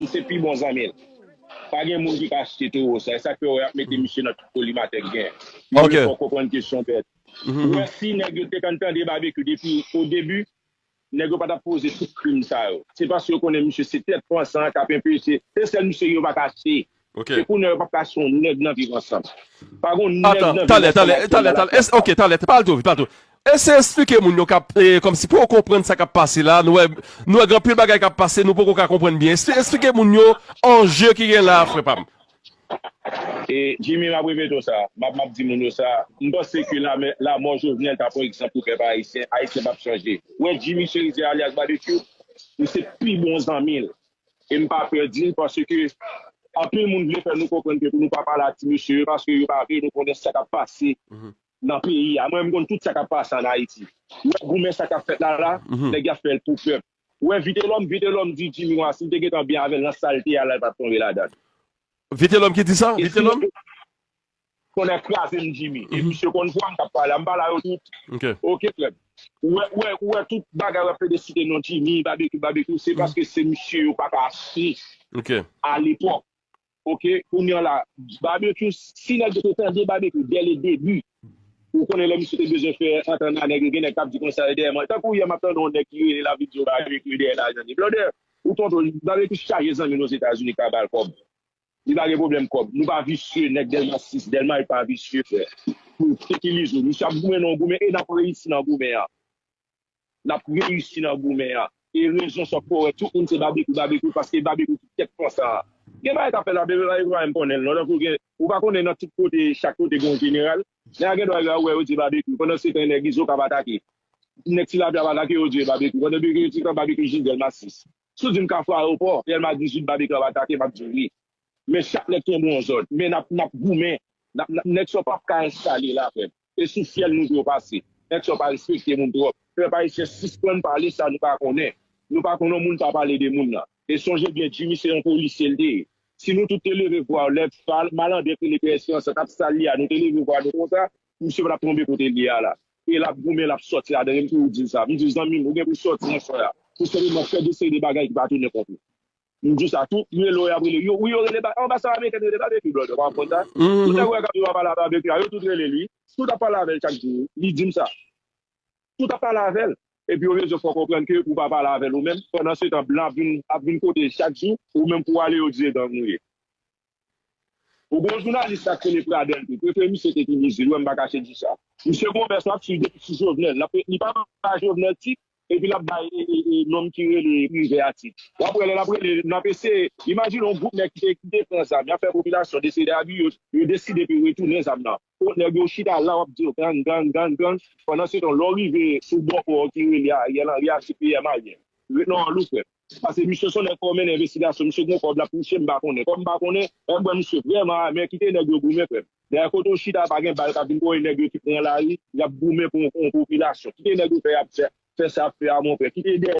M se pi bon zanmi l. Pa gen moun ki ka achte towo sa. E sa k fè wè y ap mete misye nan tout kolimatè k gen. Moun yo fè w konprann ke s yon bèt. Ou wè si nèg yo te konn tande Babekyou depi o debi, nèg yo pa t ap poze tout krim sa yo. Se paske yo konnen misye se tèt pansan an k ap enpeche. Se sèl misye yo pa ka achte. E kounye a yo p ap ka achte yon nèg nan viv ansanm. Pa gen yon nèg nan viv ansanm ak yon malafwa. Atann, atann, atann. Ok, talè, pa al two vit, pa al two vit. Eseye esplike moun yo kap kòmsi pouw konprann sa kap pase la, nou wè gen anpil bagay kap pase nou poko ka konprann byen esplike moun yo anje ki gen la a frè pam. E Jimmy map repete w sa, map map di moun yo sa, m panse ke lame lamò Jovenel ta pran egzanp pou pèp ayisyen, ayisyen pap chanje. Ou wè Jimmy Cherizier alyas Babekyou, m se pi bon zanmi l e m pa pè di l paske anpil moun vle fè nou konprann ke pou nou pa pale ak ti mesye yo paske yo pa vle nou konnen sa kap pase nan peyi a mwen m konn tout sa kap pase an ayiti wè goumen sa kap fèt la la nèg yap fèl pou pèp ou wè vitelòm vitelòm di jimmy wah sil te gentan byen avèl nan sal te a la li pat tonbe ladann Vitelòm ki di sa vitelòm. Tonnè krazem jimmy e misye konn vwam kap pale a m pale a yo tout ok frèm ou wè ou wè ou wè tout bagay wap plede site non jimmy babekyou babekyou se paske se misye yo paka achte alepòk. Ok kounya la Barbecue si nèg yo te tande Barbecue dès le début ou konnen lè misye te bezwen fè antant a nèg yo gen nèg kap di konsa e dèyè mwen tankou yè map tande yon nèg ki rele lap vin di yo Barbecue dèyè lajan de blòdè ou tonton li Barbecue chaje zanmi l ozetazini ka bal kòb li pa gen pwoblèm kòb nou pa visye nèg Delma 6 Delma 8 pa visye frè pou fekilize misye ap goumen nan yon goumen e nap reyisi nan goumen an. nap reyisi nan goumen an e rezon sa w poko wè tout moun se babekyou babekyou paske babekyou ki tèt fon sa a gen bagay kap fèt la babekyou pa janm konnen l non tankou gen ou pa konnen nan tout kote chak kote gen yon jeneral nèg a gen dwa rive a ou wè yo di babekyou pandan se tan nèg izo k ap atake nèg tilapli ap atake yo di yo babekyou pandan bgy yo ti tan babekyou jis dèlma 6 si w di m kafou ayewopò dèlma 18 babekyou ap atake map di w wi men chak nèg kenbe yon zòn men nap nap goumen nap nap nèg sa w pap ka enstale la frè m. Se sou fyèl nou yo pase. Nèg sa yo pa respekte moun twòp. Pèp ayisyen sispann pale sa nou pa konnen. Nou pa konnen yon moun pa pale de moun nan. E sonje byen Jimmy se yon polisye li te ye. Si nou tout te leve vwa lè Fal, Malandren ki rele Pè Esperans la t ap sal li a nou te leve vwa nou konsa, misye pa t ap tonbe kote li ye a la. E l ap goumen l ap sòti ladan li. M toujou di l sa. M di l zanmi m ou gen pou w sòti nan swen a. Pou senpleman fè dosye de bagay ki pa tounen kont ou. M di sa tou, m rele w yap rele w, wi yo rele ba, anbasad amerikèn rele Babecue brother pa w konn sa, tout nèg ou wè kap viv anba la Babecue a yo tout rele l wi, tout ap pale avè l chak jou wi, li di m sa, tout ap pale avè l, epi yo rezon fè w konprann ke ou pa pale avè l ou menm, pandan se tan blan ap vin ap vin kote l chak jou, ou menm pou w ale yo di se gang ou ye. Ou gon jounalis sak rele pradel tou prefe misye te kini zil wè m pa kache di sa. Misye gon vès lap swiv depi sou jovenel lap li pa bay jovenel tit epi lap bay nonm ki rele privè a tit wap wè lè lap rele nap eseye imajine yon gwoup nèg ki te pran zam yap fè popilasyon dese dèyè bgy yo yo deside pou yo retounen zam nan kot nèg yo chita la wap di yo gang gang gang gang pandansetan lè w rive sou bò kò ki rele ariel henry a se pm a ye ret nan ròl ou frèm. Pase misye son nèg fò mennen envestigasyon misye gon kòb lap touche m pa konnen kòm m pa konnen m kwè misye vrèman amè kite nèg yo goumen frèm dèyè kote w chita pa gen bal kap vin kore nèg yo ki pran lari yap goumen pou yon popilasyon kite nèg yo fè yap fè sa yap fè a mon frè kite dèyè